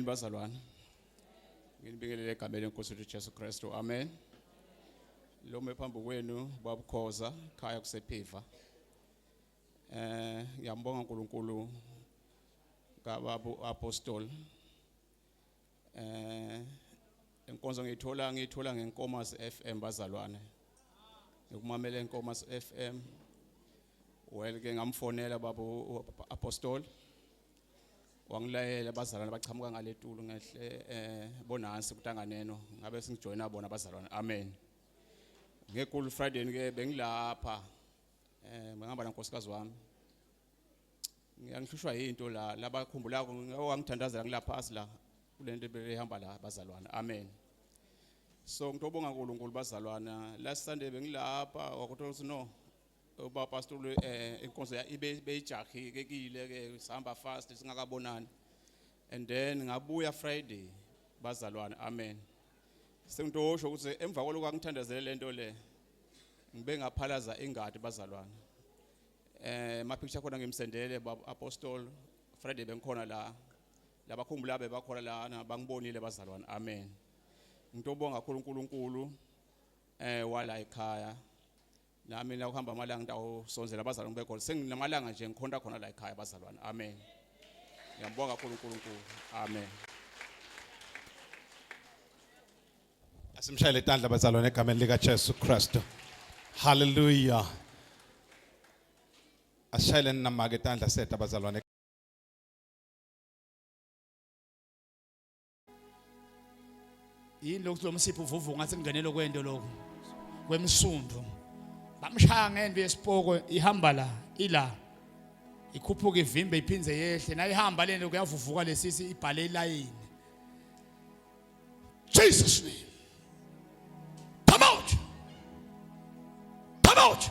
bazalwane nginibingelele egameni lenkosi lethu jesu kristu amen lo me phambi kwenu babukhoza khaya kusephiva eh ngiyambonga uNkulunkulu kababu apostol eh inkonzo ngiyithola ngiyithola ngenkomas FM bazalwane ngikumamela inkomas FM well ke ngamfonela babu apostol wangilayela abazalwane bachamuka ngaletulu ngehle eh bonansi kutanganeno ngabe singijoyina bona abazalwane amen ngekulu friday ke bengilapha eh ngihamba nankosikazi wami ngiyangihlushwa yinto la labakhumbulako ngawangithandazela ngilapha asila kulento behamba la bazalwane amen so ngitobonga uNkulunkulu bazalwana last sunday bengilapha wakuthola ukuthi no uba pastor um inkonzo ya- ibe- beyijahile kile ke sihamba fast singakabonani and then ngabuya friday bazalwane amen sengitosho ukuthi emva kwaloko angithandazele le nto le ngibe ngaphalaza ingadi bazalwane eh mapicture khona ngimsendele bab apostol friday bengikhona la labakhumbula bebakhona lana bangibonile bazalwane amen ngitobonga kakhulu uNkulunkulu eh wala ekhaya nami nakuhamba amalanga ngitawusonzela abazalwane begoli senginamalanga nje ngikhonta khona la ekhaya abazalwane amen ngiyambonga kakhulu unkulunkulu amen asimshayele tandla bazalwane egameni likajesu kristu halleluya asishayeleni namake tandla seta bazalwane yini lokhu lo msipho uvuvu ngathi kungenelo kwento lokhu kwemsundu bamshaya ngento yesipoko ihamba la ila ikhuphuka ivimbe iphindze yehle nayo ihamba lento kuyavuvuka lesisi ibhale ilayini Jesus name come out come out